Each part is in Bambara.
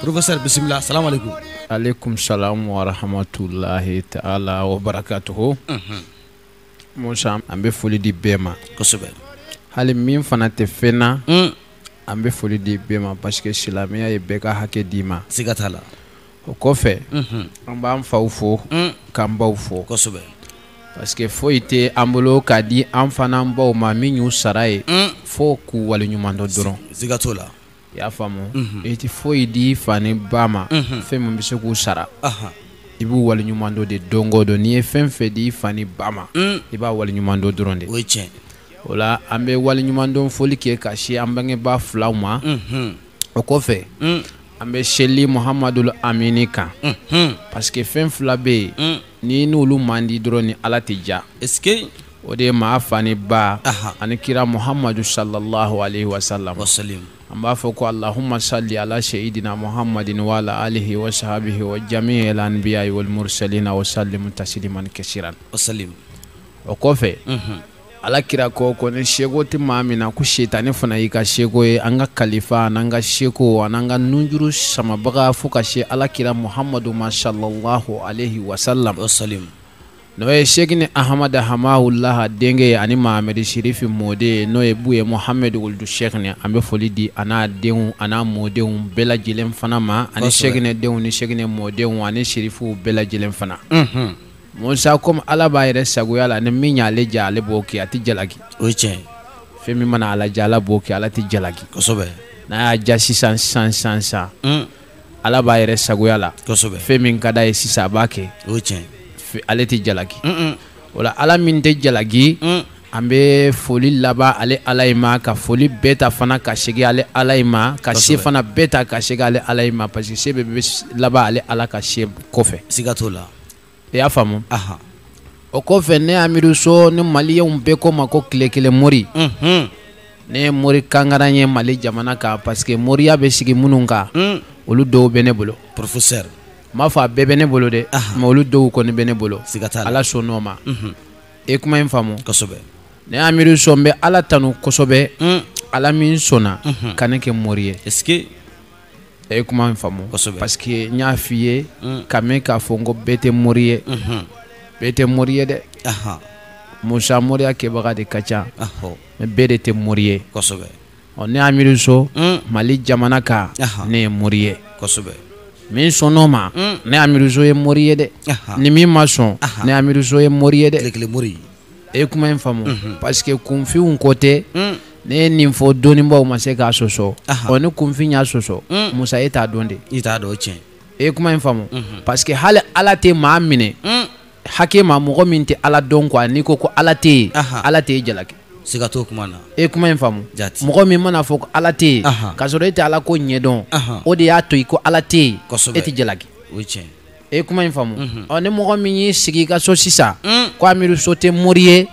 professeur bisimila assalamu alaikum alaikum salam wa rahmatullahi ta'ala wa barakatuhu mhm. musa an bɛ foli di bɛɛ ma kosɛbɛ hali min fana tɛ fɛn na mm. an bɛ foli di bɛɛ ma parce que silamɛya ye bɛɛ ka hakɛ d'i ma siga t'a la o kɔfɛ mhm. an b'an faw fo mm. k'an baw fo kosɛbɛ parce que foyi tɛ an bolo k'a di an fa n'an baw ma min y'u sara ye mm. fo k'u waleɲuman dɔn dɔrɔn siga t'o la i y'a faamu i tɛ foyi di i fa ni ba ma fɛn min bɛ se k'u sara i b'u waleɲuman dɔn de don o don n'i ye fɛn fɛn di i fa ni ba ma i b'a waleɲuman dɔn dɔrɔn de o ye tiɲɛ o la an bɛ waleɲuman dɔn foli kɛ ka se an bangebaa filaw ma o kɔfɛ an bɛ seli muhamadul amini kan parce que fɛn fila bɛ yen Ni n'olu man di dɔrɔn ni ala tɛ ja es o de ye maa fa ni ba ani kira muhamadu sallallahu alaihi wa sallam an b'a fɔ ko allahumma salli ala seyidina muhamadin wa ala alihi wa sahbihi wa jami'il anbiya'i wal mursalina wa sallim tasliman kasiran o kɔfɛ Ala kira ko ko ni seko tɛ maa min na ko sitanɛ fana y'i ka seko ye an ka kalifa ani an ka seko ani an ka nunjuru samabaga fo ka se ala kira muhamadu ma sallallahu alaihi wa sallam n'o ye sɛkinɛ ahmada hamahulah denkɛ ye ani mahameri sirifi mɔden ye n'o ye buye muhamadu wuludu sɛkinɛ an bɛ foli di a n'a denw a n'a mɔdenw bɛɛ lajɛlen fana ma ani sɛkinɛ denw ni sɛkinɛ mɔdenw ani sirifuw bɛɛ lajɛlen fana Musa comme Ala b'a yɛrɛ sagoya la ni min y'ale diya ale b'o kɛ a tɛ jalaki o ye tiɲɛ ye fɛn min mana Ala diya Ala b'o kɛ Ala tɛ jalaki kosɛbɛ n'a y'a diya sisan sisan un Ala b'a yɛrɛ sagoya la kosɛbɛ fɛn min ka d'a ye sisan a b'a kɛ o ye tiɲɛ ye fe- ale tɛ jalaki un un o la Ala min tɛ jalaki un an bɛ foli laban ale Ala in ma ka foli bɛɛ ta fana ka segin ale Ala in ma ka se Kosɛbɛ. fana bɛɛ ta ka segin ale Ala in ma parce que se bɛɛ bɛ laban ale Ala ka se kɔfɛ siga t'o la i y'a faamu o kɔfɛ ne amiru so ni maliyenw bɛɛ ko n ma ko tile kelen mori ne ye mori kangaran ye mali jamana kan parce que moriya bɛ sigi minnu kan olu dɔw bɛ ne bolo porofesɛri n m'a fɔ a bɛɛ bɛ ne bolo dɛ mais olu dɔw kɔni bɛ ne bolo siga t'a la ala sɔnn'o ma e kuma in faamu ne amiru so n bɛ ala tanu kosɛbɛ ala min sɔnna ka ne kɛ mori ye e ye kuma in faamu parce que n y'a f'i ye mm. k'a mɛn k'a fɔ n ko bɛɛ tɛ mori ye mm-hmm. bɛɛ tɛ mori ye dɛ musa moriya kɛbaga de ka ca mais bɛɛ de tɛ mori ye ɔ ne amiru so mm. mali jamana kan ne ye mori ye min sɔnn'o ma mm. ne amiru so ye mori ye dɛ ni min ma sɔn ne amiru so ye mori ye dɛ e ye kuma in faamu mhm. parce que kunfinw ko tɛ mm. ne ye nin fɔ dɔnnibaaw ma se k'a sɔsɔ ɔ ni kunfin y'a sɔsɔ mm. musa e t'a dɔn de i t'a dɔn tiɲɛ e ye kuma in faamu mhm. parce que hali ala tɛ maa minɛ mm. hakɛ ma mɔgɔ min tɛ ala dɔn quoi n'i ko ko ala tɛ yen ala tɛ e jalaki siga t'o kuma na e kuma in faamu mɔgɔ min mana fɔ ko ala tɛ yen k'a sɔrɔ e tɛ ala ko ɲɛdɔn o de y'a to i ko ala tɛ yen e tɛ jalaki o ye tiɲɛ e ye kuma in faamu mhm. ɔ ni mɔgɔ min y'i sigi i ka so sisan mm. ko amiru so tɛ mori ye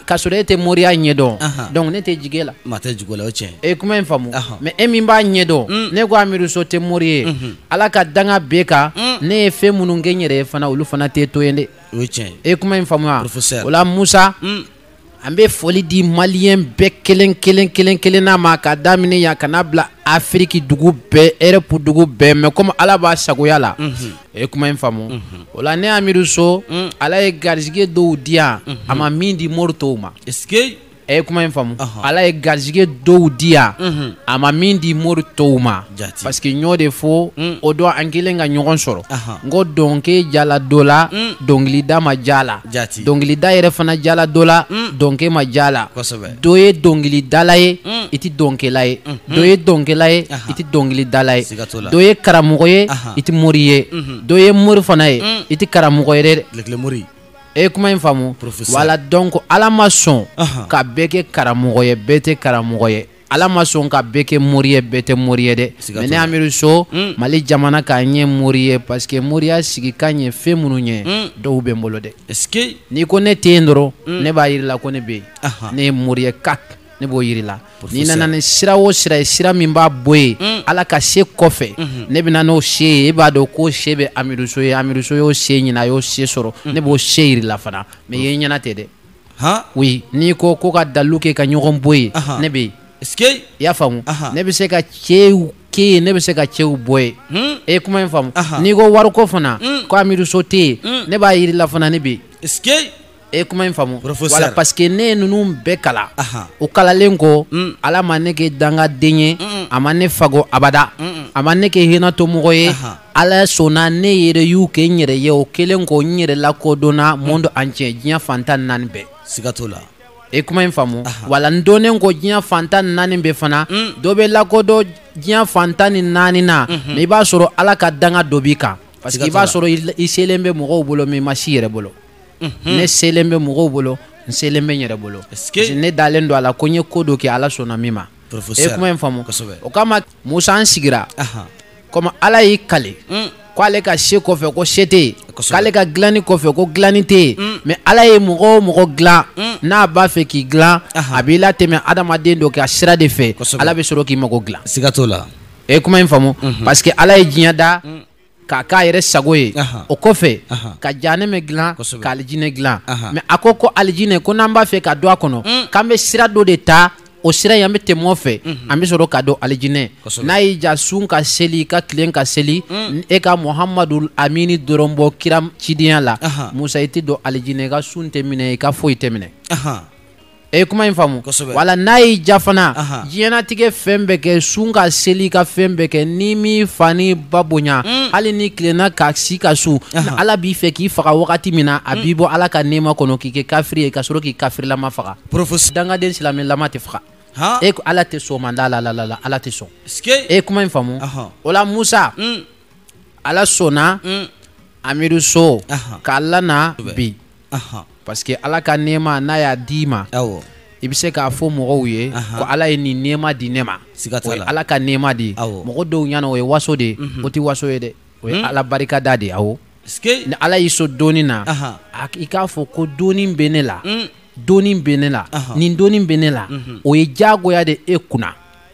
k'a sɔrɔ e tɛ moriya ɲɛdɔn donc ne tɛ jigi e la maa tɛ jigi la o tiɲɛ e ye kuma in faamu mais e min b'a ɲɛdɔn mm. n'e ko amiru so tɛ mori ye mhm. ala ka danga b'e kan mm. ne ye fɛn minnu kɛ n yɛrɛ ye fana olu fana tɛ to yen dɛ o ye tiɲɛ e ye kuma in faamu wa o la musa an bɛ foli di maliyɛn bɛɛ kelen kelen kelen kelenna ma ka daminɛ yan ka n'a bila afiriki dugu bɛɛ europe dugu bɛɛ mais comme ala b'a sagoya la e ye kuma in faamu o la ne amiru so ala ye garisigɛ dɔw di yan a ma min di mori tɔw ma e kuma in faamu ala ye garisigɛ dɔw di yan a ma min di mori tɔw ma parce que n y'o de fɔ mm. o don an kɛlen ka ɲɔgɔn sɔrɔ n ko dɔnkɛ diyala dɔ la mm. dɔnkilida ma diy'a la dɔnkilida yɛrɛ fana diyala dɔ la mm. dɔnkɛ ma diy'a la dɔ ye dɔnkilidala ye i tɛ dɔnkɛla ye mm-hmm. dɔ ye dɔnkɛla ye i tɛ dɔnkilidala ye dɔ ye karamɔgɔ ye i tɛ mori ye mm-hmm. dɔ ye mori fana ye i tɛ karamɔgɔ ye dɛ e kuma in faamu wala donc ala ma sɔn ka bɛɛ kɛ karamɔgɔ ye bɛɛ tɛ karamɔgɔ ye ala ma sɔn ka bɛɛ kɛ mori ye bɛɛ tɛ mori ye dɛ mais ne amiru so mm. mali jamana kan n ye mori ye parce que moriya sigikan ye fɛn minnu ye mm. dɔw bɛ n bolo dɛ n'i ko ne tɛ yen dɔrɔn mm. ne b'a yir'i la ko ne bɛ yen ne ye mori ye kak ne b'o yir'i la n'i nana ni sira o sira ye sira min b'a bɔ yen mm. ala ka se kɔfɛ mm-hmm. ne bɛ na n'o se ye e b'a dɔn k'o se bɛ amiru so ye amiru so y'o se ɲini a y'o se sɔrɔ mm. ne b'o se yir'i la fana mais ye ɲɛna tɛ dɛ oui n'i ko ko ka dalu kɛ ka ɲɔgɔn bɔ yen ne bɛ yen i y'a faamu ne bɛ se ka cɛw kɛ yen ne bɛ se ka cɛw bɔ yen hmm? e kuma in faamu n'i ko wariko fana hmm. ko amiru so tɛ yen hmm. ne b'a yir'i la fana ne bɛ yen e kuma in faamu wala parce que ne ye ninnu bɛɛ kalan u kalannen kɔ ala ma ne kɛ dangaden ye a ma ne fago abada a ma ne kɛ hinɛtɔ mɔgɔ ye ala sɔnna ne yɛrɛ y'u kɛ n yɛrɛ ye o kɛlen kɔ n yɛrɛ lakodɔnna monde entier diɲɛ fan tan ni naani bɛɛ siga t'o la e kuma in faamu wala n dɔnnen kɔ diɲɛ fan tan ni naani bɛɛ fana mm. dɔ bɛ lakodɔn diɲɛ fan tan ni naani na mais mhm. i b'a sɔrɔ ala ka danga dɔ b'i kan parce que i b'a sɔrɔ i selen bɛ mɔgɔw bolo mais i ma se i yɛrɛ bolo mhm. ne selen bɛ mɔgɔw bolo n selen bɛ n yɛrɛ bolo ne dalen don a la ko n ye ko dɔ kɛ ala sɔnna min ma e kuma in faamu o kama musa an sigira komi ala y'i kale mm. ko ale ka se kɔfɛ ko se tɛ yen k'ale ka dilanni kɔfɛ ko dilanni tɛ yen mm. mais ala ye mɔgɔ o mɔgɔ dilan mm. n'a b'a fɛ k'i dilan a b'i latɛmɛ adamaden dɔ ka sira de fɛ ala bɛ sɔrɔ k'i mago dilan siga t'o la e ye kuma in faamu mm-hmm. parce que ala ye diɲɛ da k'a k'a yɛrɛ sago ye o kɔfɛ ka jahanɛmɛ dilan ka alijinɛ dilan mais a ko ko alijinɛ ko n'an b'a fɛ ka don a kɔnɔ mm. k'an bɛ sira dɔ de ta o sira in an bɛ tɛmɛ o fɛ mm-hmm. an bɛ sɔrɔ ka don alijinɛ n'a y'i diya sun ka seli ka tilen ka seli mm. e ka muhamadu amini dɔrɔn bɔ kira cidenya la musa i tɛ don alijinɛ i ka sun tɛ minɛ i ka foyi tɛ minɛ e ye kuma in faamu voilà n'a y'i diya fana diɲɛnatigɛ fɛn bɛɛ kɛ sun ka seli ka fɛn bɛɛ kɛ n'i m'i fa n'i ba bonya mm. hali n'i tilenna ka si ka sun ala b'i fɛ k'i faga wagati min na a mm. b'i bɔ ala ka nɛɛma kɔnɔ k'i kɛ kafiri ye ka sɔrɔ k'i kafirilama faga dangaden silamɛlama tɛ faga e ko ala tɛ sɔn manda la la la ala tɛ sɔn e ye kuma in faamu o la musa mm. ala sɔnna mm. amiru so k'a lana bi parce que ala ka nɛɛma n'a y'a d'i ma i bɛ se k'a fɔ mɔgɔw ye ko ala ye nin nɛɛma di ne ma o ye ala ka nɛɛma de ye mɔgɔ dɔw ɲɛ na o ye waso de ye mhm. o tɛ waso ye dɛ o ye hmm? ala barikada de ye awɔ ni ala y'i sɔn dɔnni na i k'a fɔ ko dɔnni bɛ ne la hmm. dɔnni bɛ ne la nin dɔnni bɛ ne la mhm. o ye diyagoya de e kunna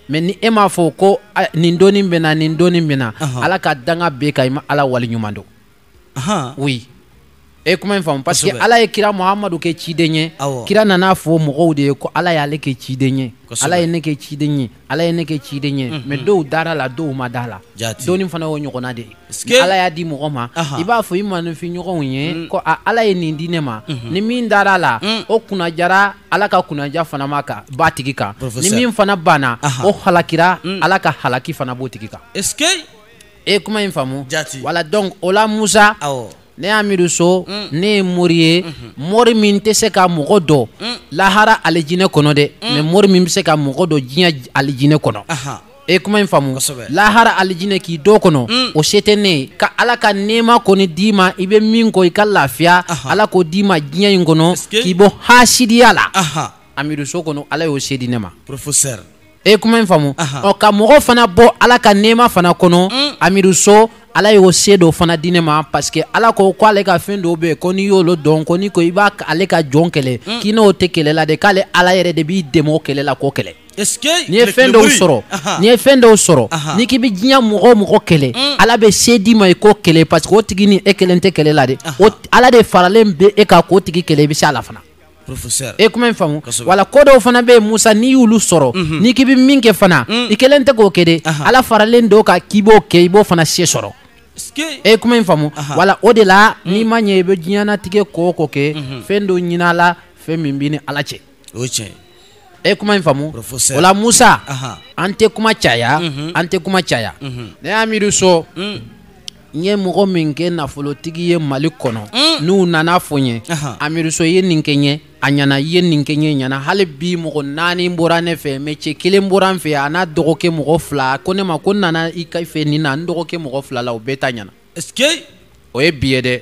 mais ni e m'a fɔ ko nin dɔnni bɛ n na nin dɔnni bɛ n na ala ka danga b'e kan i ma ala waleɲuman dɔn koyi e ye kuma in faamu parce que ala ye kira muhamadu kɛ ciden ye kira nana a fɔ mɔgɔw de ye ko ala y'ale kɛ ciden ye ala ye ne kɛ ciden ye ala ye ne kɛ ciden ye mais dɔw dara a la dɔw ma da a la dɔnni fana y'o ɲɔgɔnna de ye ala y'a di mɔgɔ ma i b'a fɔ i maaninfinɲɔgɔnw ye mm. ko ala ye nin di ne ma mm-hmm. ni min dara a la mm. o kunnadiyara ala ka kunnadiya fana ma kan b'a tigi kan ni min fana banna o halakira mm. ala ka halaki fana b'o tigi kan e ye kuma in faamu voilà donc o la musa ne amiru so mm. ne ye mori ye mm-hmm. mori min tɛ se ka mɔgɔ don mm. lahara alijinɛ kɔnɔ dɛ mais mori min bɛ se ka mɔgɔ don diɲɛ alijinɛ kɔnɔ e kuma in faamu lahara alijinɛ k'i don a kɔnɔ mm. o se tɛ ne ye ka ala ka nɛɛma kɔni d'i ma i bɛ min kɔ i ka lafiya ala k'o d'i ma diɲɛ in kɔnɔ k'i bɔ hasidiya la amiru so kɔnɔ ala y'o se di ne ma e ye kuma in faamu ɔ ka mɔgɔ fana bɔ ala ka nɛɛma fana kɔnɔ mm. amiru so ala y'o se dɔ fana di ne ma parce que ala ko ko ale ka fɛn dɔw bɛ yen ko n'i y'olu dɔn ko n'i ko i b'a ale ka jɔn kɛlɛ mm. k'i n'o tɛ kɛlɛ la dɛ k'ale ala yɛrɛ de b'i dɛmɛ o kɛlɛ la k'o kɛlɛ n'i ye fɛn dɔw sɔrɔ n'i ye fɛn dɔw sɔrɔ n'i k'i bɛ diɲɛ mɔgɔ o mɔgɔ kɛlɛ mm. ala bɛ se d'i ma i k'o kɛlɛ parce que o tigi ni e kelen tɛ kɛlɛ la dɛ ala de faralen bɛ e kan k'o tigi kɛlɛ i bɛ se a la fana e kuma in faamu wala ko dɔw fana bɛ yen Musa n'i y'olu sɔrɔ mhm. n'i k'i bɛ min kɛ fana mm. i kelen tɛ k'o kɛ dɛ ala faralen don kan k'i b'o kɛ i b'o fana se sɔrɔ e kuma in faamu wala o de la mm. n'i ma ɲɛ i bɛ diɲɛnatigɛ ko o ko kɛ mhm. fɛn dɔ ɲin'a la fɛn min b'i ni ala cɛ o ye tiɲɛ ye e kuma in faamu wala Musa an tɛ kuma caya mhm. an tɛ kuma caya mhm. ne Amiruso mm. n ye mɔgɔ min kɛ nafolotigi ye Mali kɔnɔ mm. n'u nan'a fɔ n ye Amiruso i ye nin kɛ n ye a ɲana i ye nin kɛ n ye a ɲana hali bi mɔgɔ naani bɔra ne fɛ mais cɛ kelen bɔra n fɛ a n'a dɔgɔkɛ mɔgɔ fila ko ne ma ko n nana i ka fɛ nin na n dɔgɔkɛ mɔgɔ fila la o bɛɛ ta ɲana o ye bi ye dɛ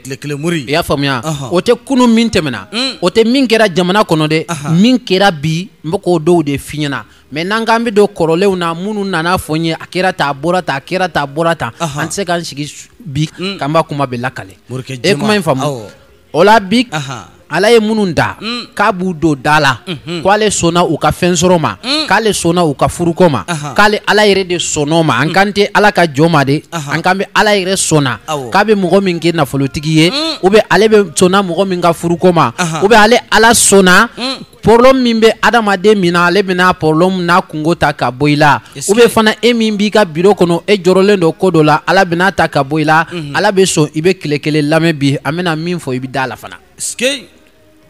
i y'a faamuya o tɛ kunun min tɛmɛna mm. o tɛ min kɛra jamana kɔnɔ dɛ min kɛra bi n bɛ k'o dɔw de f'i ɲɛna mais n'an k'an bɛ don kɔrɔlenw na minnu nan'a fɔ n ye a kɛra tan a bɔra tan a kɛra tan a bɔra tan an tɛ se k'an sigi bi mm. k'an b'a kuma bɛɛ lakale e kuma in faamu o la bi ala ye minnu da mm. k'a b'u don da la mm-hmm. ko ale sɔnna u ka fɛn sɔrɔ ma mm. k'ale sɔnna u ka furuko ma k'ale ala yɛrɛ de sɔnn'o ma an mm. kan tɛ ala ka jɔn ma dɛ an kan bɛ ala yɛrɛ sɔnna k'a bɛ mɔgɔ min kɛ nafolotigi ye ou bien ale bɛ sɔnna mɔgɔ min ka furuko ma ou bien ale ala sɔnna problème min bɛ adamaden min na ale bɛna problème n'a kunko ta ka bɔ i la ou bien fana e min b'i ka bureau kɔnɔ e jɔrɔlen don ko dɔ la ala bɛn'a ta ka bɔ i la mhm. ala bɛ sɔn i bɛ tile kelen lamɛn bi an bɛna min fɔ i bɛ d'a la fana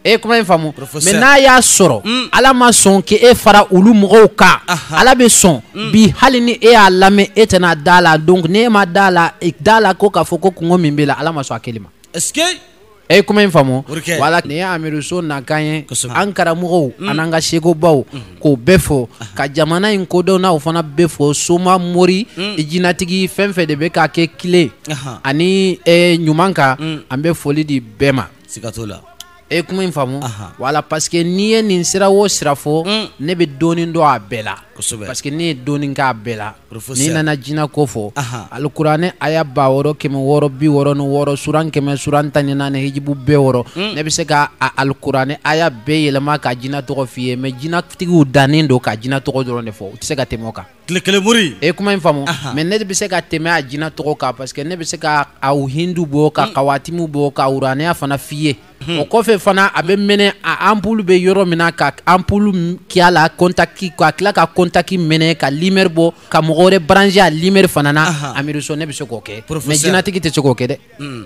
e ye kuma in faamu mais n'a y'a sɔrɔ mm. ala ma sɔn k'e fara olu mɔgɔw kan ala bɛ sɔn mm. bi hali ni e y'a lamɛn e tɛna d'a la donc n'e ma d'a la e d'a la ko k'a fɔ ko kunko min b'i la ala ma sɔn a kɛli ma e ye kuma in faamu wala ne Amiruso nakan ye an karamɔgɔw mm. an'an ka sekubaw mm. k'o bɛɛ fo ah. ka jamana in kodɔnnaw fana bɛɛ fo soma mori mm. jinatigi fɛn o fɛn de bɛ k'a kɛ kile ani eh, ɲuman kan an bɛ foli di bɛɛ ma e ye kuma in faamu wala parce que n'i ye nin sira o sira fɔ ne bɛ dɔɔnin dɔn a bɛɛ la kosɛbɛ parce que ne ye dɔɔni k'a bɛɛ la n'i nana jina ko fɔ alikuranɛ aya ba wɔɔrɔ kɛmɛ wɔɔrɔ bi wɔɔrɔ ni wɔɔrɔ suran kɛmɛ suran tan ni naani hijibu bi wɔɔrɔ hmm. ne bɛ se ka a alikuranɛ aya bɛɛ yɛlɛma ka jina tɔgɔ f'i ye mais jinatigiw dannen don ka jina tɔgɔ dɔrɔn de fɔ u tɛ se ka tɛmɛ o kan tile kelen mori e kuma in faamu mais ne bɛ se ka tɛmɛ a jina tɔgɔ kan parce que ne bɛ se ka aw hindu bɔ ka hmm. kawatimu bɔ ka uranɛya fana f'i ye o kɔfɛ fana a bɛ mɛnɛ a anpulu bɛ yɔrɔ min na ka anpulu kɛ a la kɔntaki ka tila ka kɔntaki mɛnɛ ka limeri bɔ ka mɔgɔ wɛrɛ baranse a limeri fana na Amiru So ne bɛ se k'o kɛ mɛ jinɛtigi tɛ se k'o kɛ dɛ hmm.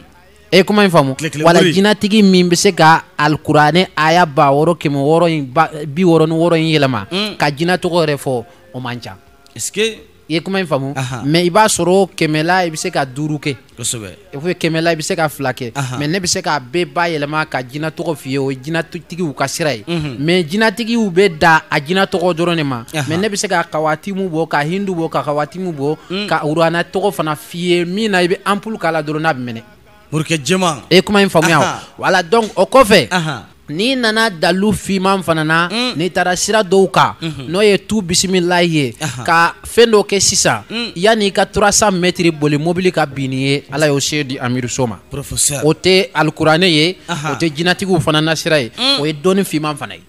e ye kuma in faamu voilà jinɛtigi min bɛ se ka alikuranɛ aya ba wɔɔrɔ kɛmɛ wɔɔrɔ in bi wɔɔrɔ ni wɔɔrɔ in yɛlɛma hmm. ka jinɛ tɔgɔ yɛrɛ fɔ o man ca i ye kuma in faamu mɛ i b'a sɔrɔ kɛmɛ la i bɛ se ka duuru kɛ kosɛbɛ kɛmɛ la i bɛ se ka fila kɛ mɛ ne bɛ se ka bɛɛ bayɛlɛma ka jinɛ tɔgɔ f'i ye o jinɛtigiw ka sira ye mɛ jinɛtigiw bɛ dan a jinɛ tɔgɔ dɔrɔn de ma mɛ ne bɛ se ka kawatimu bɔ ka hindu bɔ ka kawatimu bɔ ka urana tɔgɔ fana f'i ye min na i bɛ anpulu k'a la dɔrɔn n'a bɛ mɛnɛ Morikɛ jɛman e ye kuma in faamuya o, anhan, voilà donc o kɔfɛ, anhan, n'i nana dalilu fiman fana na, un, n'i taara sira dɔw kan, unhun, n'o ye tu bisimilayi ye, anhan, ka fɛn dɔ kɛ sisan, un, yanni i ka 300 mètres boli mobili ka bin n'i ye, Ala y'o se di Amiru So ma, professeur o tɛ alikuranɛ ye, anhan, o tɛ jinatigiw fana na sira ye, un, o ye dɔnni fiman fana ye.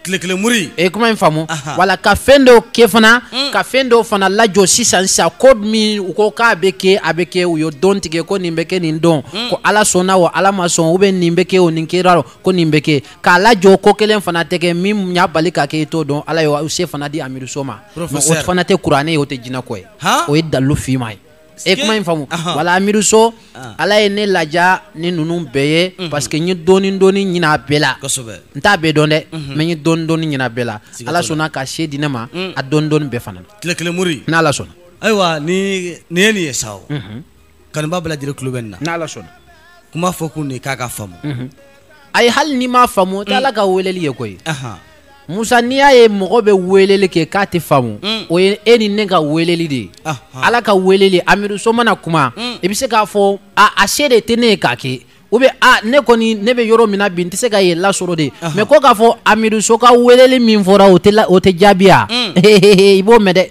tile kelen muri e ye kuma in faamu voilà ka fɛn dɔw kɛ fana mm. ka fɛn dɔw fana lajɔ sisan sisan ko min u ko k'a bɛ kɛ a bɛ kɛ u y'o don tigɛ ko nin bɛ kɛ nin don mm. ko ala sɔnna o ala ma sɔn u bɛ nin bɛ kɛ o nin kɛra o ko nin bɛ kɛ k'a lajɔ ko kelen fana tɛ kɛ min y'a bali ka kɛ i t'o dɔn ala y'o se fana di Amiru So ma o fana tɛ kuranɛ ye o tɛ jinɛko ye o ye dalilu fiman ye e ye kuma in faamu voilà Amiru So ah. ala ye ne ladiya ni ninnu bɛɛ ye mhm. parce que n ye dɔɔni dɔɔni ɲini a bɛɛ la n t'a bɛɛ dɔn dɛ mhm. mɛ n ye dɔɔni dɔɔni ɲini a bɛɛ la ala sɔnna ka se di ne ma mm. a dɔɔni dɔɔni bɛɛ fana tile kelen mori n'ala sɔnna ayiwa ni nin ye nin ye sa o mhm. kanubaa bɛɛ lajɛlen tulo bɛ nin na n'ala sɔnna kuma fɔ kun de k'a ka faamu ayi hali n'i m'a faamu o tɛ mm. ala ka weleli ye koyi Musa n'i y'a ye mɔgɔ bɛ weleli kɛ k'a tɛ faamu mm. o ye e ni ne ka weleli de ye ala ka weleli Amiru So mana kuma mm. i bɛ se k'a fɔ a se de tɛ ne ye k'a kɛ u bɛ a ne kɔni ne bɛ yɔrɔ min na bi n tɛ se ka yen lasɔrɔ dɛ mɛ ko k'a fɔ Amiru So ka weleli min fɔra o tɛ jaabiya mm. i b'o mɛn dɛ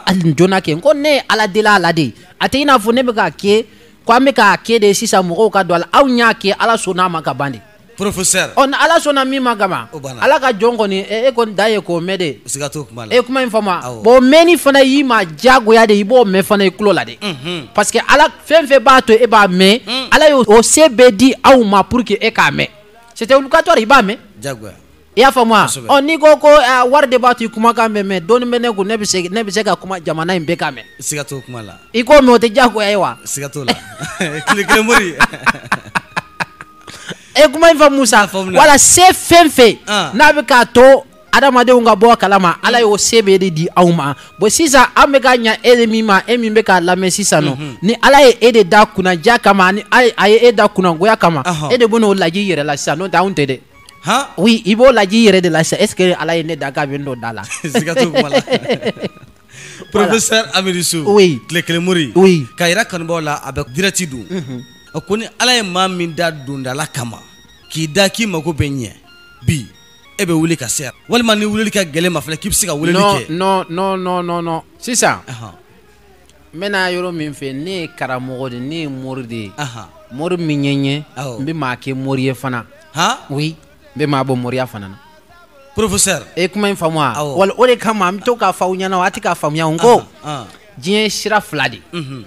ali donna kɛ ko ne ye ala deli ala de a tɛ i n'a fɔ ne bɛ k'a kɛ ko an bɛ k'a kɛ de sisan mɔgɔw ka don a la aw y'a kɛ ala sɔnna a ma ka ban de professeur ɔ ni ala sɔnna min ma kaban O banna. ala ka jɔn kɔni e e kɔni dan ye k'o mɛn de siga t'o kuma la e ye kuma in faamu Awɔ. bɔn mɛnni fana y'i ma diyagoya de i b'o mɛn fana i tulo la de Mhm. parce que ala fɛn fɛn b'a to e b'a mɛn ala y'o o se bɛɛ di aw ma pour que e k'a mɛn c'était obligatoire i b'a mɛn jagoya i y'a faamu wa ɔ n'i ko ko eh, wari de b'a to i kumakan bɛ mɛn dɔɔni bɛ ne kun ne bɛ se ne bɛ se ka kuma jamana in bɛɛ k'a mɛn siga t'o kuma la i k'o mɛn o tɛ diyagoya ye wa siga t'o la tile kelen mori e eh, kuma in faamu sa wala se fɛn fɛn ah. n'a bɛ k'a to adamadenw ka bɔ a kalama ala y'o se bɛɛ de di aw ma bon sisan an bɛ ka ɲa e de min ma e min bɛ k'a lamɛn sisan nɔ mhm. ni ala ye e de da kunnadiya kama ani a ye e da kunnagoya kama e de bɛn'o lajɛ i yɛrɛ la sisan n'o tɛ anw tɛ dɛ i b'o lajɛ i yɛrɛ de la sa est-ce que ala ye ne da k'a bɛn dondala professeur amiruso tile kelen mori ka yɛrɛ kanubɔ la a bɛ direct don a ko ni ala ye maa min da dondala kama k'i da k'i mago bɛ ɲɛ bi e bɛ wuli ka se walima ni wuli ka gɛlɛn i ma fɔla k'i bɛ se ka weleli kɛ sisan n bɛna yɔrɔ min fɛ ne ye karamɔgɔ de ne ye mori de mori min ye n ye n bɛ maa kɛ mori ye fana oui n bɛ maa bɔ moriya fana na professeur e kuma in faamu wa wala o de kama n bɛ to k'a fɔ aw ɲɛna aw tɛ k'a faamuya n ko diɲɛ ye sira fila de mhm.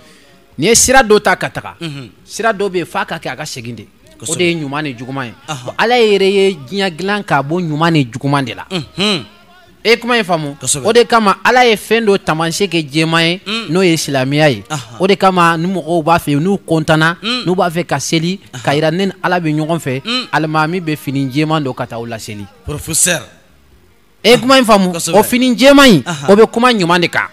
n'i ye sira dɔ ta ka taga mhm. sira dɔ bɛ yen f'a ka kɛ a ka segin de o de ye ɲuman ni juguman ye ala yɛrɛ ye diɲɛ dilan k'a bɔ ɲuman ni juguman de la mhm. e ye kuma in faamu o de kama ala ye fɛn dɔ taamasiyɛn kɛ jɛman ye mm. n'o ye silamɛya ye o de kama ni mɔgɔw b'a fɛ n'u kɔntana mm. n'u b'a fɛ ka seli k'a yira ne ni ala bɛ ɲɔgɔn fɛ mm. alimami bɛ fini jɛman don ka taa u laseli professeur e ye kuma in faamu o fini jɛman in o bɛ kuma ɲuman de kan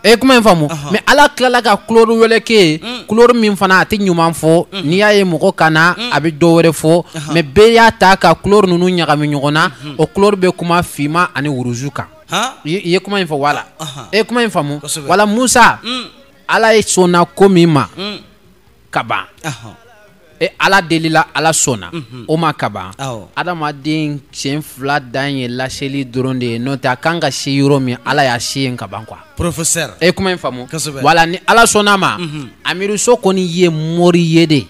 e kuma in faamu mais ala tilala ka couleur wɛrɛ kɛ couleur min fana a tɛ ɲuman fɔ n'i y'a ye mɔgɔ kana a bɛ dɔ wɛrɛ fɔ mais bɛɛ y'a ta ka couleur ninnu ɲagami ɲɔgɔn na o couleur bɛ kuma finman ani rouge kan i ye kuma in fɔ wala e kuma in faamu wala musa ala ye sɔnna ko min ma ka ban e ala delila ala sɔnna mhm. o ma ka ban adamaden sen fila dan ye laseli dɔrɔn de ye n'o tɛ a kan ka se yɔrɔ min ala y'a se yen ka ban quoi professeur e kuma in faamu wala ni ala sɔnn'a ma mhm. amiruso kɔni ye mori ye de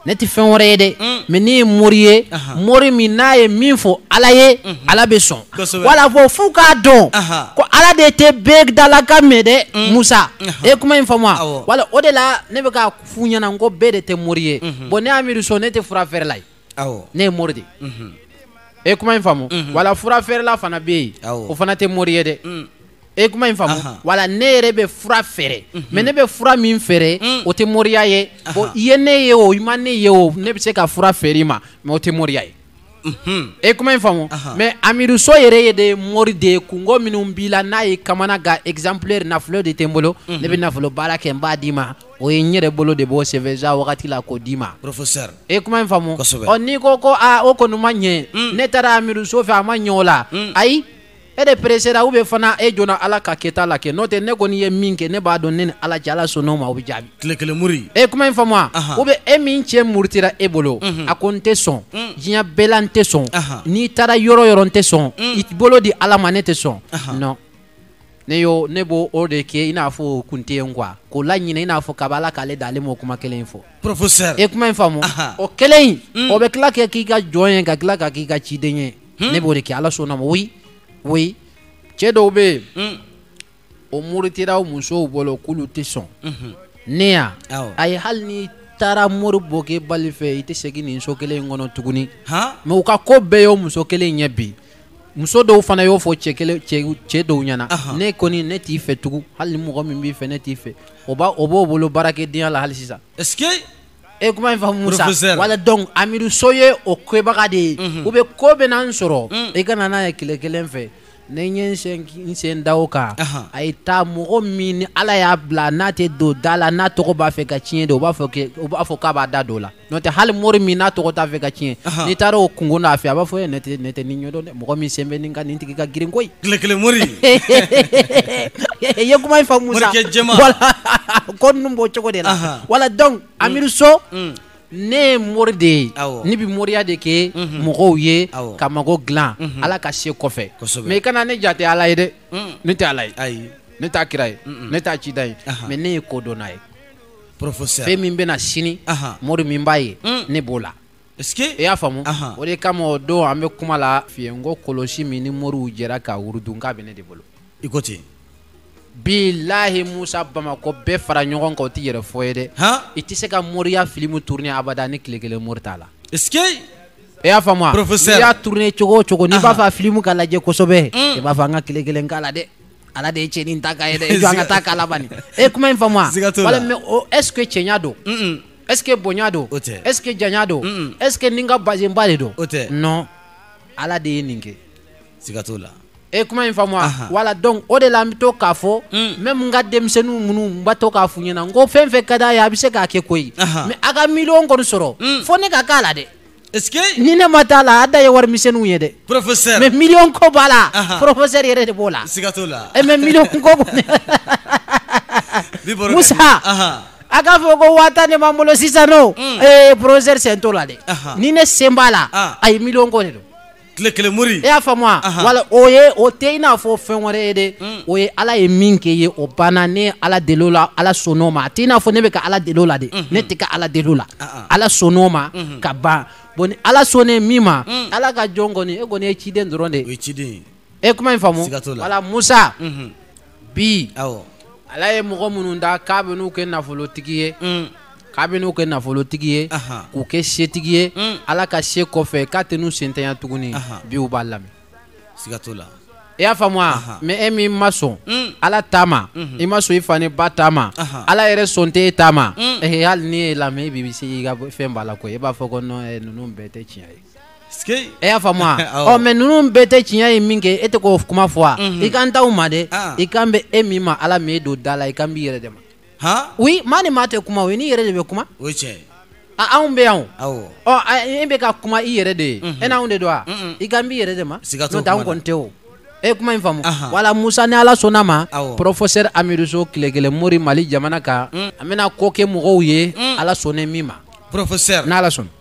ne tɛ fɛn wɛrɛ ye dɛ mm. mais ne ye mori ye mori min n'a ye min fɔ ala ye mhm. ala bɛ sɔn wala fɔ f'u k'a dɔn ko ala de tɛ bɛɛ dalakan mɛn dɛ mm. musa e kuma in faamu wala o de la ne bɛ k'a f'u ɲɛna ko bɛɛ de tɛ mori ye mhm. bon ne amiruso ne tɛ fura feerela ye ne ye mori de mhm. e kuma in faamu mhm. wala fura feerela fana bɛ yen o fana tɛ mori ye dɛ mm. e kuma in faamu wala ne yɛrɛ bɛ fura feere mais ne bɛ fura min feere mm. o tɛ moriya ye bon i ye ne ye o i ma ne ye o ne bɛ se ka fura feere i ma mais o tɛ moriya ye e kuma in faamu mais amiru so yɛrɛ ye de mori de ye kungo minnu b'i la n'a y'i kamana gan exemplaire nafolo de tɛ n bolo ne bɛ nafolo baara kɛ n b'a d'i ma o ye n yɛrɛ bolo de b'o sɛbɛn sa wagati la k'o d'i ma professeur e kuma in faamu n'i ko ko o kɔni ma ɲɛ ne taara amiru so fɛ a ma ɲɛ o la ayi e de pressera ou bien fana e joona ala ka kɛta la kɛ n'o tɛ ne kɔni ye min kɛ ne b'a dɔn ne ni ala cɛ ala sɔnn'o ma o bɛ jaabi tile kelen mori e kuma in faamu ou bien e min cɛ murutira e bolo a ko n tɛ sɔn diɲɛ bɛɛ la n tɛ sɔn n'i taara yɔrɔ yɔrɔ n tɛ sɔn i bolo di ala ma ne tɛ sɔn non ne y'o ne b'o o de kɛ i n'a fɔ o kun tɛ yen quoi k'o laɲinɛ i n'a fɔ kaba ala k'ale da ale m'o kuma kelen in fɔ professeur e kuma in faamu o kelen in o bɛ tila ka k'i ka jɔn ye ka tila ka k'i ka ciden ye ne b'o de kɛ ala sɔnn'o ma oui oui cɛ dɔw bɛ yen hmm. o muritira o musow bolo k'olu tɛ sɔn mhm. ne ya a ye hali n'i taara mori bokɛbali fɛ i tɛ segin nin so kelen in kɔnɔ tuguni mais u ka ko bɛɛ y'o muso kelen ye bi muso dɔw fana y'o fɔ cɛ kelen cɛ dɔw ɲɛna ne kɔni ne t'i fɛ tugun hali ni mɔgɔ min b'i fɛ ne t'i fɛ o b'a o b'o bolo baarakɛdenya la hali sisan e kuma in faamu Musa Professeur. wala donc Amiru So ye o kɛbaga de ye ou bien ko bɛn'an sɔrɔ i kana n'a ye tile kelen fɛ ne ye n sen n sen da o kan Ahan. a ye taa mɔgɔ min ni Ala y'a bila n'a tɛ don da la n'a tɔgɔ b'a fɛ ka tiɲɛ de o b'a fɔ ke o b'a fɔ k'a b'a da don o la n'o tɛ hali mori min n'a tɔgɔ t'a fɛ ka tiɲɛ Ahan. n'i taara o kungo n'a fɛ a b'a fɔ e ne tɛ ne tɛ nin ɲɛdɔn dɛ Mɔgɔ min sen bɛ nin kan nin tigi ka girin koyi, tile kelen mori, i ye kuma in faamu sa, morikɛ jɛman, voila ko ninnu b'o cogo de la, anhan, voila donc Amiru So ne ye mori de ye, awɔ, ne bɛ moriya de kɛ mɔgɔw ye, awɔ, ka mago dilan Ala ka se kɔfɛ, kosɛbɛ, mais i kana ne jate Ala ye dɛ, ne tɛ Ala ye, ayi, ne t'a kira ye, ne t'a ciden ye, anhan, mais ne ye kodɔnna ye, professeur fɛn min bɛna sini, anhan, mori min b'a ye ne b'o la i y'a faamu o de kama o don an bɛ kuma la f'i ye n ko kɔlɔsi min ni moriw jɛra ka wurudi k'a bɛ ne de bolo i ko ten bilahi musa bamakɔ bɛɛ fara ɲɔgɔn kan o tɛ yɛrɛfɔ ye dɛ i tɛ se ka moriya filimu tourner abada ni tile kelen mori t'a la est ce que i y'a faamu wa professeur n'i y'a tourner cogo o cogo n'i b'a fɛ a filimu ka lajɛ kosɛbɛ mm. i b'a fɔ an ka tile kelen k'a la dɛ ala de ye cɛnin ta k'a ye dɛ i jɔ an ka taa k'a laban e kuma in faamu wa wala mais est ce que cɛɲa don est ce que bonya don est ce que janya don est ce que ni n ka bazenba de don non ala de ye nin kɛ siga t'o la e kuma in faamu wa wala donc o de la n bɛ to k'a fɔ même n ka denmisɛnninw minnu n b'a to k'a f'u ɲɛna n ko fɛn fɛn ka d'a ye a bɛ se k'a kɛ koyi mais a ka miliyɔn kɔni sɔrɔ fo ne ka k'a la dɛ Est-ce que ni ne ma taa la a da ye wari misɛnninw ye dɛ professeur mais million ko b'a la Aha. professeur yɛrɛ de b'o la siga t'o la Eh, mais million ko kɔni bi baro ka Musa. di. Aha. a k'a fɔ ko waa tan de b'an bolo sisan nɔ ee professeur sen t'o la dɛ Aha. ni ne sen b'a la Ah. a ye million ko de don tile kelen mori e y'a faamu wa wala o ye o tɛ i n'a fɔ fɛn wɛrɛ ye dɛ hmm. o ye ala ye min kɛ ye o banna ne ye ala deli o la ala sɔnn'o ma a tɛ i n'a fɔ ne bɛ ka ala deli o la de hmm. ne tɛ ka ala deli o la ah, ah. ala sɔnn'o ma hmm. ka ban bon ni ala sɔnnen min ma ala ka jɔn kɔni e kɔni ye ciden dɔrɔn de ye o ye ciden ye e kuma in faamu wala musa bi ala ye mɔgɔ minnu da k'a bɛ n'u kɛ nafolotigi ye mm. k'a bɛ n'u kɛ nafolotigi ye k'u kɛ setigi ye mm. ala ka se kɔfɛ k'a tɛ n'u sentanya tuguni bi u b'a lamɛn siga t'o la i y'a faamu wa mais e min ma sɔn mm. ala ta ma mm-hmm. i ma sɔn i fa ni ba ta ma ala yɛrɛ sɔn tɛ e ta ma hali n'i ye lamɛn i bɛ siga fɛn b'a la koyi i b'a fɔ ko ninnu bɛɛ tɛ tiɲɛ ye E y'a faamu wa mais ninnu bɛɛ tɛ tiɲɛ ye min kɛ e tɛ k'o kuma fɔ wa i kan t'aw ma dɛ i kan bɛ e min ma ala min e don da la i kan b'i yɛrɛ de ma maa ni maa tɛ kuma i n'i yɛrɛ de bɛ kuma anw bɛ yan e bɛ ka kuma i yɛrɛ de ye e n'anw de don wa i kan b'i yɛrɛ de ma anw kɔni tɛ o e kuma in faamu wala musa ni ala sɔnna ma professeur amidu so tile kelen mori mali jamana kan an bɛna ko kɛ mɔgɔw ye ala sɔnna min ma n'ala sɔnna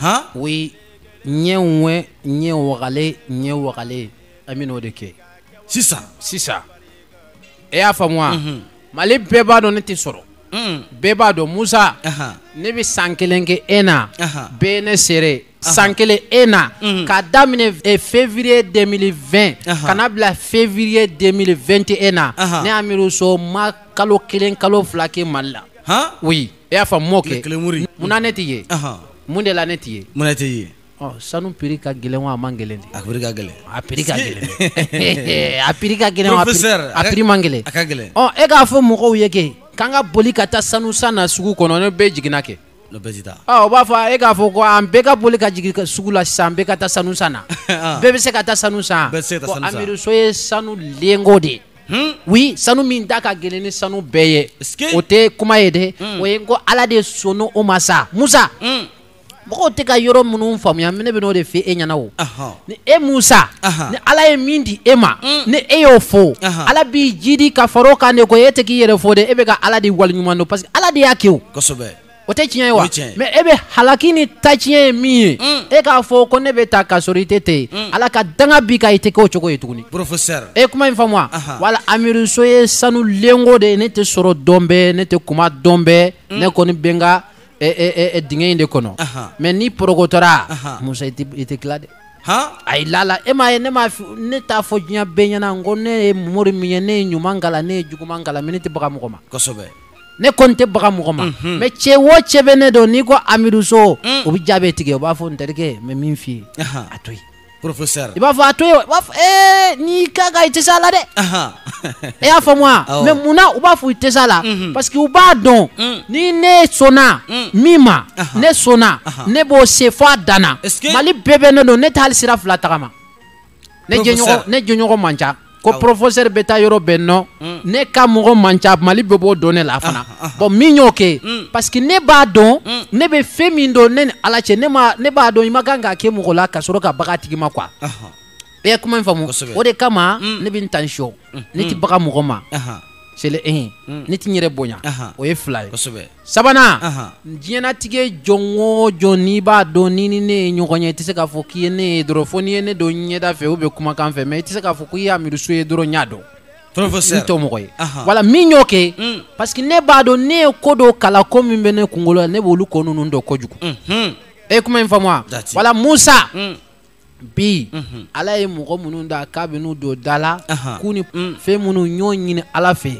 han oui ɲɛ wɛ ɲɛ wagalen ɲɛ wagalen an bɛ n'o de kɛ sisan sisan e y'a faamu wa mhm. mali bɛɛ b'a dɔn ne tɛ sɔrɔ mhm. bɛɛ b'a dɔn musa ne bɛ san kelen kɛ e na bɛɛ ne seere san kelen e na mhm. k'a daminɛ eh, février 2020 ka na bila février 2021 na ne amidu so ma kalo kelen kalo fila kɛ mali la oui e y'a faamu mɔkɛ kelen mori munna ne tɛ ye mun de la ne tɛ ye mun ne tɛ ye sanu prix ka gɛlɛn wa a man gɛlɛn de a prix ka gɛlɛn a prix ka gɛlɛn a prix ka gɛlɛn a prix man gɛlɛn a ka gɛlɛn ɔ e k'a fɔ mɔgɔw ye kɛ k'an ka boli ka taa sanu san na sugu kɔnɔ ni bɛɛ jiginna kɛ o b'a fɔ e k'a fɔ ko an bɛɛ ka boli ka jigin sugu la sisan bɛɛ ka taa sanu san na bɛɛ bɛ se ka taa sanu san ko amidu so ye sanu lingot de ye Hmm? oui sanu min da ka gɛlɛn ni sanu bɛɛ ye o tɛ kuma ye dɛ hmm. o ye ko ala de sɔnna o ma sa musa hmm. mɔgɔw tɛ ka yɔrɔ minnu faamuya ne bɛ n'o de fɔ e ɲɛna o ni e musa ni ala ye min di e ma ni e y'o fɔ ala b'i jiidi ka fara o kan de ko e tɛ k'i yɛrɛ fo dɛ e bɛ ka ala de waleɲuman dɔn parce que ala de y'a kɛ o kosɛbɛ o tɛ tiɲɛ ye wa mais e bɛ halaki ni ta tiɲɛ ye min ye mm. e k'a fɔ ko ne bɛ tan ka sɔrɔ i tɛ ten mm. ala ka danga b'i kan i tɛ kɛ o cogo ye tuguni professeur e kuma in faamu wa wala Amidu So ye sanu lingot de ye ne tɛ sɔrɔ don bɛɛ ne tɛ kuma don bɛɛ mm. ne kɔni bɛ n ka dingɛ in de kɔnɔ mais ni porokotora musa i tɛ tila dɛ ayi lala e m'a ye ne m'a ne t'a fɔ diɲɛ bɛɛ ɲɛna n ko ne ye mori min ye ne ye ɲuman kalan ne ye juguman kalan mais ne tɛ baga mɔgɔ ma kosɛbɛ ne kɔni tɛ baga mɔgɔ ma mhm. mais cɛ o cɛ bɛ ne dɔn n'i ko Amidu So mm. o bɛ jaabi tigɛ o b'a fɔ n terikɛ n bɛ min f'i ye a to yen professeur i b'a fɔ a to yen b'a fɔ ee n'i ka ka i tɛ s'a la dɛ e y'a faamu wa mais munna u b'a fɔ i tɛ s'a la mhm. parce que u b'a dɔn mm. ni ne sɔnna mm. min ma ne sɔnna ne b'o se fo a dan na mali bɛɛ bɛ ne dɔn ne tɛ hali sira fila tagama ne jɛɲɔgɔn ne jɛɲɔgɔn man ca ko professeur bɛ taa yɔrɔ bɛɛ non mm. ne ka mɔgɔ man ca mali bɛɛ b'o dɔn ne la fana ah, ah, ah. bon min y'o kɛ mm. parce que ne b'a dɔn mm. ne bɛ fɛn min dɔn ne ni ala cɛ ne ma ne b'a dɔn i man kan k'a kɛ mɔgɔ la ka sɔrɔ ka baga tigi ma quoi i ye kuma in faamu o de kama ne bɛ n attention ne tɛ baga mɔgɔ ma c'est le un ne tɛ n yɛrɛ bonya o ye fila ye sabanan diɲɛlatigɛ jɔn o jɔn n'i b'a dɔn n'i ni ne ye ɲɔgɔn ye i tɛ se k'a fɔ k'i ye ne ye dɔrɔn fo n'i ye ne dɔn ɲɛda fɛ ou bien kumakan fɛ mais i tɛ se k'a fɔ k'i ye Amidu So ye dɔrɔn i y'a dɔn n t'o mɔgɔ ye wala min y'o kɛ mm. parce que ne b'a dɔn ne ye ko dɔw kalan ko min bɛ ne kunkolo la ne b'olu ko ninnu dɔn kojugu e kuma in faamu wa wala musa mm. bi ala ye mɔgɔ minnu da k'a bɛ n'u don da la k'u ni fɛn minnu ɲɔ ɲini ala fɛ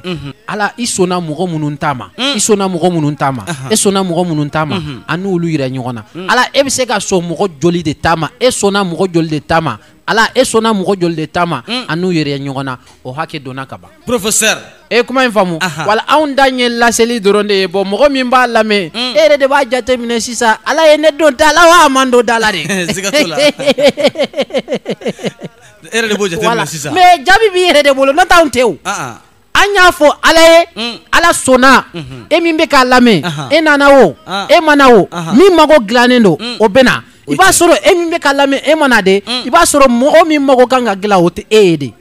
ala i sɔnna mɔgɔ minnu ta ma i sɔnna mɔgɔ minnu ta ma e sɔnna mɔgɔ minnu ta ma an n'olu yira ɲɔgɔn na ala e bɛ se ka sɔn mɔgɔ joli de ta ma e sɔnna mɔgɔ joli de ta ma ala e sɔnna mɔgɔ joli de ta ma an n'u yira ɲɔgɔn na o hakɛ dɔnna ka ban professeur e ye kuma in faamu Aha. wala anw ta ye laseli dɔrɔn de ye bon mɔgɔ min b'a lamɛn e yɛrɛ de b'a jateminɛ sisan ala ye ne don da la wa a ma n don da la de siga t'o la e yɛrɛ de b'o jateminɛ Voilà. sisan mais jaabi b'i yɛrɛ de bolo n'o t'anw tɛ o Ah, ah. an y'a fɔ ala ye Mm. ala sɔnna e min bɛ k'a lamɛn Aha. e nana o Ah. e ma na o Aha. min mago dilannen don Mm. o bɛ na i b'a sɔrɔ e min bɛ k'a lamɛn e ma na de i b'a sɔrɔ mɔgɔ min mago kan ka dilan o tɛ e ye de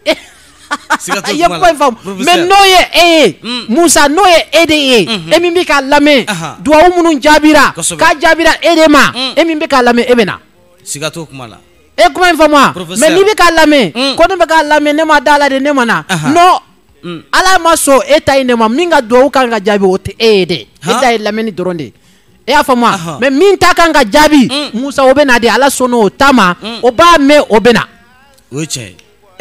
e ye kuma in faamu mais n'o ye e ye hmm. Musa n'o ye e de ye hmm. e min bɛ k'a lamɛn duwawu minnu jaabira k'a jaabira e de ma hmm. e min bɛ k'a lamɛn e bɛ na siga t'o kuma la e kuma in faamu wa mais n'i bɛ k'a lamɛn ko ne bɛ k'a lamɛn ne ma da a la de ne ma na non ala ma sɔn e ta in de ma min ka duwawu kan ka jaabi o tɛ e ye dɛ e ta ye lamɛnni dɔrɔn de ye e y'a faamu wa mais min ta kan ka jaabi Musa o bɛ na de ala sɔnna o ta ma o b'a mɛn o bɛ na. o ye tiɲɛ ye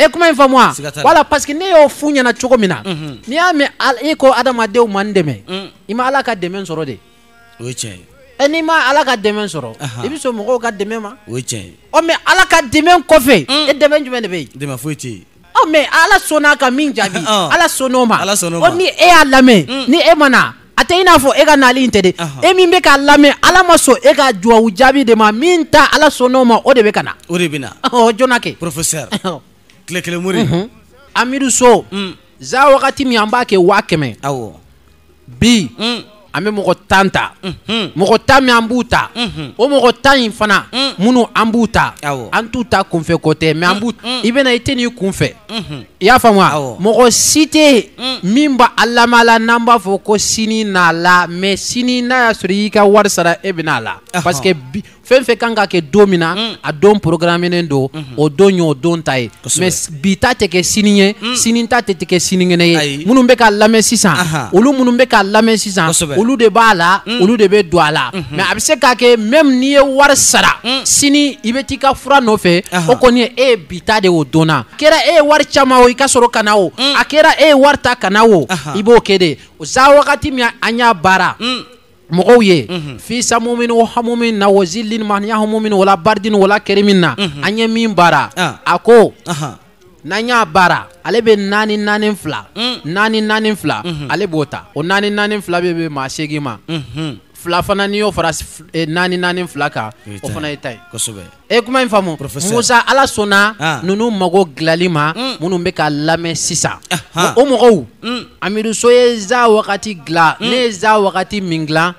e kuma in faamuya siga t'a la. wala parce que ne y'o f'u ɲɛna cogo min na Unhun. n'i y'a mɛn Al- e ko adamadenw ma n dɛmɛ Mm. i ma ala ka dɛmɛ sɔrɔ de o ye tiɲɛ ye e n'i ma ala ka dɛmɛ sɔrɔ Ahan. i bɛ sɔn mɔgɔw ka dɛmɛ ma o ye tiɲɛ ye ɔ mais ala ka dɛmɛ kɔfɛ Mm. e dɛmɛ jumɛn de bɛ yen dɛmɛ foyi tɛ yen ɔ mais ala sɔnna ka min jaabi Ɔn. ala sɔnna o ma Ala sɔnn'o ma. ɔ ni e y'a lamɛn Mm. ni e ma na a tɛ i n'a fɔ e ka naali in tɛ de e min bɛ k'a lamɛn ala ma sɔn e ka dubabu jaabi de ma min ta ala sɔnn'o ma o de bɛ ka na o de bɛ na joona kɛ professeur tile kelen mori amidu so mm. za wagati min an b'a kɛ waa kɛmɛ aw bi mm. an bɛ mɔgɔ tan ta mm-hmm. mɔgɔ tan min an b'u ta mm-hmm. o mɔgɔ tan in fana mm. minnu an b'u ta an t'u ta kunfɛ ko tɛ mais an b'u ta i bɛ na i tɛ n'i kunfɛ i y'a faamu wa Awɔ. mɔgɔ si tɛ yen min b'a alama la n'an b'a fɔ ko sini n'a la mais sini n'a y'a sɔrɔ i y'i ka wari sara e bɛna a la Ɔhɔ. parce que bi- fɛn fɛn kan ka kɛ don min na a don programmenen don o don ye o don ta ye Kosɛbɛ. mais s- bi ta tɛ kɛ sini ye sini ta tɛ tɛ kɛ sinikɛnɛ ye Ayi. minnu bɛ k'a lamɛn sisan Aha. olu minnu bɛ k'a lamɛn sisan Kosɛbɛ. olu de b'a la olu de bɛ don a la mais a bɛ se k'a kɛ même n'i ye wari sara sini i bɛ t'i ka fura nɔfɛ Aha. o kɔni ye e ye bi ta de o don n'a kɛra e ye wari caman o i ka sɔrɔ ka na o mm. a kɛra e ye wari ta ka na o i b'o kɛ de o za wagati min an y'a baara mm. mɔgɔw ye mhm. fi samumin wa hamumin na wa zillin man yahamumin wala baridin wala karimin na mhm. an ye min baara ah. a ko n'an y'a baara ale bɛ naani naani fila mm. naani naani fila mhm. ale b'o ta o naani naani fila bɛ bɛn maa seegin ma fila fana n'i y'o fara eh, naani naani fila kan o fana ye tan ye e ye kuma in faamu musa ala sɔnna ah. ninnu mago dilali ma mm. minnu bɛ ka lamɛn sisan ah, ah. o mɔgɔw mm. amidu so ye za wagati dilan mm. ne ye za wagati min dilan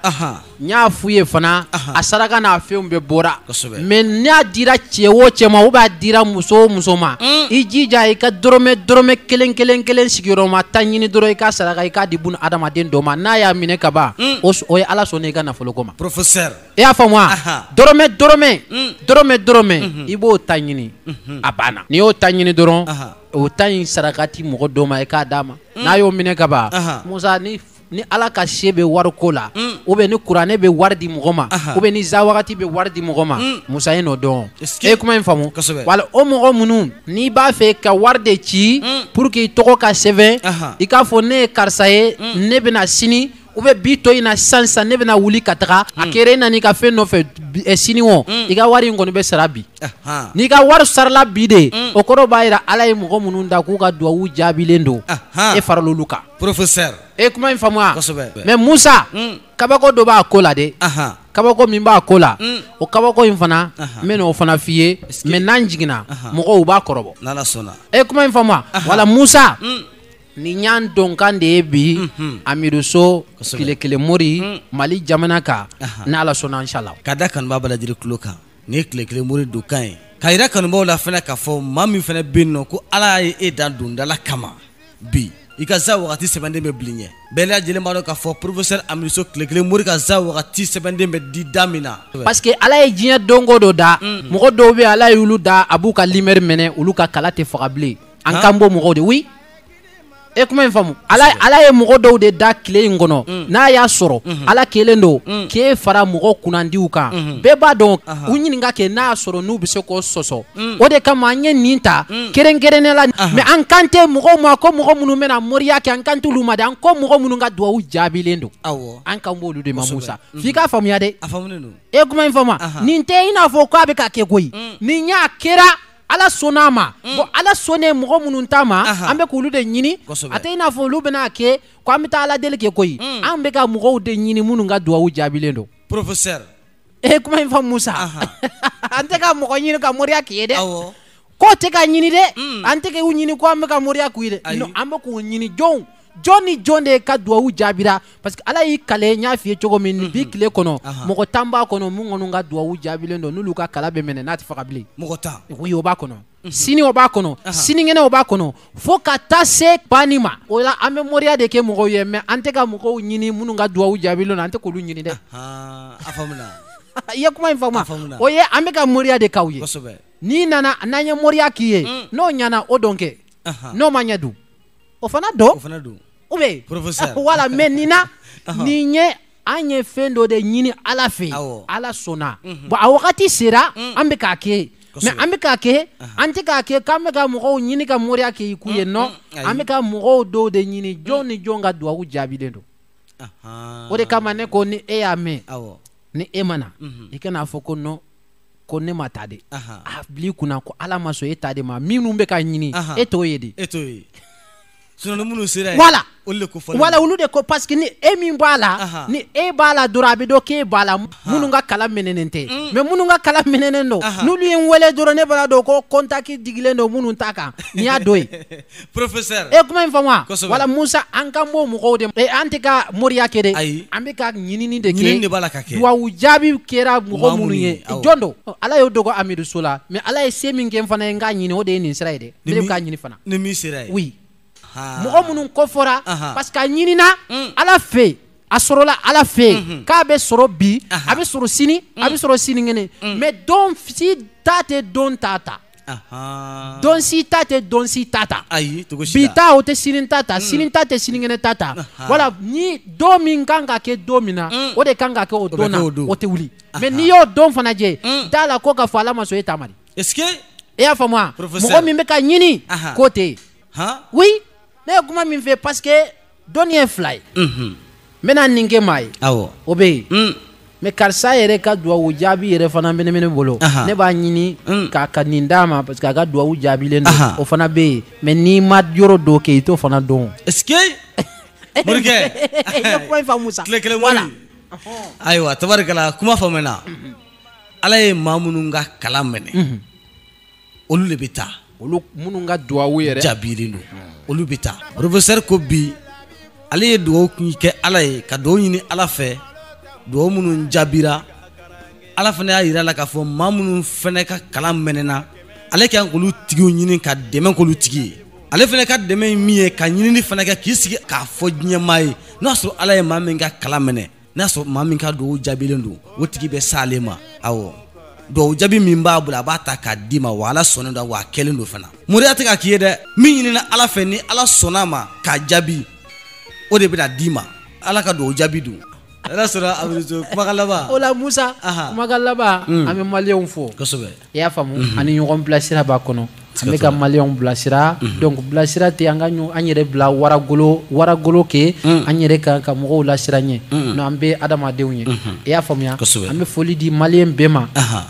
n y'a f'u ye fana a saraka n'a fɛnw bɛɛ bɔra mais n'a dira cɛ o cɛ ma ou bien a dira muso o muso ma i jija i ka dɔrɔmɛ dɔrɔmɛ kelen kelen kelen sigiyɔrɔma tan ɲini dɔrɔn i k'a saraka i k'a di bun adamaden dɔ ma n'a y'a minɛ ka ban o ye ala sɔnna i ka nafolo ko ma i y'a faamu wa dɔrɔmɛ dɔrɔmɛ mm. dɔrɔmɛ dɔrɔmɛ mm-hmm. i b'o tan ɲini mm-hmm. a banna n'i y'o tan ɲini dɔrɔn o tan in sarakati mɔgɔ dɔ ma i k'a d'a ma mm. n'a y'o minɛ ka ban musa ni ni ala ka se bɛ wari ko la mm. ou bien ni kuranɛ bɛ wari di mɔgɔ ma ou bien ni za wagati bɛ wari di mɔgɔ ma musa e n'o dɔn e ye kuma in faamu wala o mɔgɔ minnu n'i b'a fɛ ka wari de ci pour que i tɔgɔ ka sɛbɛn i k'a fɔ ne ye karisa ye ne bɛna sini u bɛ bi to in na sisan sisan ne bɛna wuli ka taga a hmm. kɛra e nana i ka fɛn nɔfɛ eh, sini o hmm. i ka wari in kɔni bɛ sara bi n'i ka wari sarala bi de hmm. o kɔrɔ b'a jira ala ye mɔgɔ minnu da k'u ka duwawu jaabilen don e farala olu kan professeur e kuma in faamuya kosɛbɛ mais Musa kabako dɔ b'a ko la dɛ kabako min b'a ko la o kabako in fana n bɛna o fana f'i ye mais n'an jiginna mɔgɔw b'a kɔrɔbɔ n'ala sɔnna e kuma in faamuya voilà Musa Ni y'a dɔnkan de ye bi Amiru So tile kelen mori mali jamana kan n' ala sɔnna inshallah ka da kanubaa bɛɛ lajɛlen tulo kan ni ye tile kelen mori don kan ye ka yira kanubaaw la fana k'a fɔ maa min fana bɛ nɔ ko ala y' e dan dondala kama bi i ka za waati sɛbɛnden bɛ bil'i ɲɛ bɛɛ lajɛlen b'a dɔn k'a fɔ professeur Amiru So tile kelen mori ka za waati sɛbɛnden bɛ di da min na parce que ala ye diɲɛ donko dɔ da mɔgɔ dɔw bɛ ala y' olu da a b'u ka numéro minɛ olu ka kala tɛ faga bilen an kan b'o mɔgɔw de oui e kuma in faamu ala ye mɔgɔ dɔw de da tile in kɔnɔ mm. n'a y'a sɔrɔ mm-hmm. ala kɛlen don mm. k'e fara mɔgɔ kunnandiw kan mm-hmm. bɛɛ b'a dɔn u ɲininka kɛ n'a y'a sɔrɔ n'u bɛ se k'o sɔsɔ mm. o de kama an ye nin ta kɛrɛnkɛrɛnnen la mais an kan tɛ mɔgɔw ma ko mɔgɔ minnu bɛna moriya kɛ an kan t'olu ma dɛ an ko mɔgɔ minnu ka duwawu jaabilen don an kan b'olu de ma musa f'i k'a faamuya dɛ e kuma in faamu nin tɛ i n'a fɔ k'a bɛ ka kɛ koyi nin y'a kɛra ala sɔnna a ma mm. bon ala sɔnnen mɔgɔ minnu ta ma an bɛ k'olu de ɲini a tɛ i n'a fɔ olu bɛna a kɛ ko an bɛ taa ala deli kɛ koyi mm. an bɛ ka mɔgɔw de ɲini minnu ka duwawu jaabilen don professeur e kuma in faamu musa an tɛ ka mɔgɔ ɲini ka moriya k'i ye dɛ k'o tɛ ka ɲini dɛ mm. an tɛ k'u ɲini ko an bɛ ka moriya k'u ye dɛ non an bɛ k'u ɲini jɔnw jɔn ni jɔn de ka duwawu jaabira parce que ala y'i kali n y'a f'i ye cogo min nin bi mhm. tile kɔnɔ mɔgɔ tan b'a kɔnɔ minnu kɔni ka duwawu jaabilen don n'olu ka kala bɛ minɛ n'a tɛ faga bilen mɔgɔ tan oui o b'a kɔnɔ mhm. sini o b'a kɔnɔ sinikɛnɛ o b'a kɔnɔ fo ka taa se banni ma o la an bɛ moriya de kɛ mɔgɔw ye mais an tɛ ka mɔgɔw ɲini minnu ka duwawu jaabilen don an tɛ k'olu ɲini dɛ a faamuna i ye kuma in faamu o ye an bɛ ka moriya de k'aw ye n'i nana n'an ye moriya k'i ye mm. n'o ɲana o don kɛ n'o ma ɲɛ dun o fana don o fana don ou bien professeur voilà mais nin na nin ye an ye fɛn dɔ de ɲini ala fɛ yen ala sɔnna mhm. bon a wagati sera mm. an bɛ k'a kɛ mais an bɛ k'a kɛ an tɛ k'a kɛ k'an bɛ ka mɔgɔw ɲini ka moriya kɛ i k'u ye mm, non mm, an bɛ ka mɔgɔ dɔw de ɲini jɔn ni jɔn ka duwawu jaabilen don o de kama ne ko ni e y'a mɛn ni e ma na mhm. i kan'a fɔ ko non ko ne ma ta de a bil'i kun na ko ala ma sɔn e ta de ma minnu bɛ ka ɲini e t'o ye de e t'o ye sinon minnu sera voilà olu de ko fɔlɔ voilà olu de ko parce que ni e min b'a la ni e b'a la dɔrɔn a bɛ dɔn k'e b'a la minnu ka kala minɛnen tɛ mm. mais minnu ka kala minɛnen don n'olu ye n wele dɔrɔn ne b'a dɔn ko contact digilen don minnu ta kan n'i y'a don yen professeur e kuma in faamu wa voilà musa an kan b'o mɔgɔw de e an tɛ ka moriya kɛ dɛ ayi an bɛ ka ɲinini de kɛ ɲinini de b'a la ka kɛ duwawu jaabi kɛra mɔgɔ minnu ye jɔn don ala y'o dogo amidu so la mais ala ye se min kɛ n fana ye n k'a ɲini o de ye nin sira ye dɛ ne bɛ k'a ɲini fana ni min sera ye oui mɔgɔ minnu kofɔra parce que a ɲinina mm. ala fɛ yen a sɔrɔla ala fɛ yen mhm. k'a bɛ sɔrɔ bi a bɛ sɔrɔ sini a bɛ mm. sɔrɔ sinikɛnɛ mm. mais don si ta tɛ don ta ta Don si ta tɛ don si ta ta ayi bi ta o tɛ sini ta ta sini ta tɛ sinikɛnɛ ta ta voilà ni don min kan ka kɛ don min na o de kan ka kɛ o don na o tɛ wuli mais n'i y'o dɔn fana jɛ da la ko k'a fɔ ala ma sɔn e ta ma dɛ est-ce que e y'a faamu wa mɔgɔ min bɛ ka ɲini k'o tɛ yen oui ne ye kuma min fɛ parce que dɔnni ye fila ye n bɛna nin kɛ maa ye o bɛ yen mm. mais karisa yɛrɛ ka duwawu jaabi yɛrɛ fana bɛ ne bolo ne b'a ɲini mm. k'a ka nin d'a ma parce que a ka duwawu jaabilen don o fana bɛ yen mais n'i ma yɔrɔ dɔ kɛ i t'o fana dɔn est-ce que morikɛ i ye kuma in faamu sa tile kelen wari ayiwa tabarikala kuma faamuna ala ye maa minnu ka kalan minɛ olu de bɛ taa olu minnu ka duwawu yɛrɛ jaabilen don olu bɛ taa professeur ko bi ale ye dugawu kɛ ala ye ka dugawu ɲini ala fɛ dugawu minnu jaabira ala fana y'a jira la k'a fɔ maa minnu fana ka kalan mɛnɛna ale ka kan k'olu tigiw ɲini ka dɛmɛ k'olu tigi ye ale fana ka dɛmɛ ye min ye ka ɲinini fana kɛ k'i sigi k'a fɔ diɲɛmaa ye n'a sɔrɔ ala ye maa min ka kalan minɛ n'a sɔrɔ maa min ka dugawu jaabilen don o tigi bɛ s'ale ma awɔ dugawu jaabi min b'a bolo a b'a ta k'a d'i ma wa ala sɔnnen don wa a kɛlen don fana moriya tɛ ka k'i ye dɛ min ɲinina ala fɛ ni ala sɔnna a ma k'a jaabi o de bɛna d'i ma ala ka dugawu jaabi don ala sɔnna amidu so kumakan laban o la musa kumakan laban an bɛ maliyɛnw fo kosɛbɛ i y'a faamu mhm. ani ɲɔgɔn bilasira b'a kɔnɔ an bɛ ka maliyɛnw bilasira mhm. donc bilasira tɛ an ka an yɛrɛ bila waragolo waragolo kɛ mhm. an yɛrɛ ka ka mɔgɔw lasiran ɲɛ non an bɛ adamadenw ye i y'a faamuya an bɛ foli di maliyɛn bɛɛ ma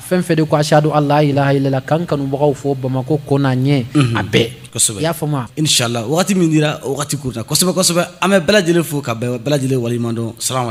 fɛn fɛn de ko ashadu an la ilaha illallah k'an kanubagaw fo bamakɔ kɔ n'a ɲɛ a bɛɛ i y'a faamuya inshallah wagati min dira wagati kuruna kosɛbɛ kosɛbɛ an bɛ bɛɛ lajɛlen fo ka bɛɛ lajɛlen waleɲuman dɔn salamu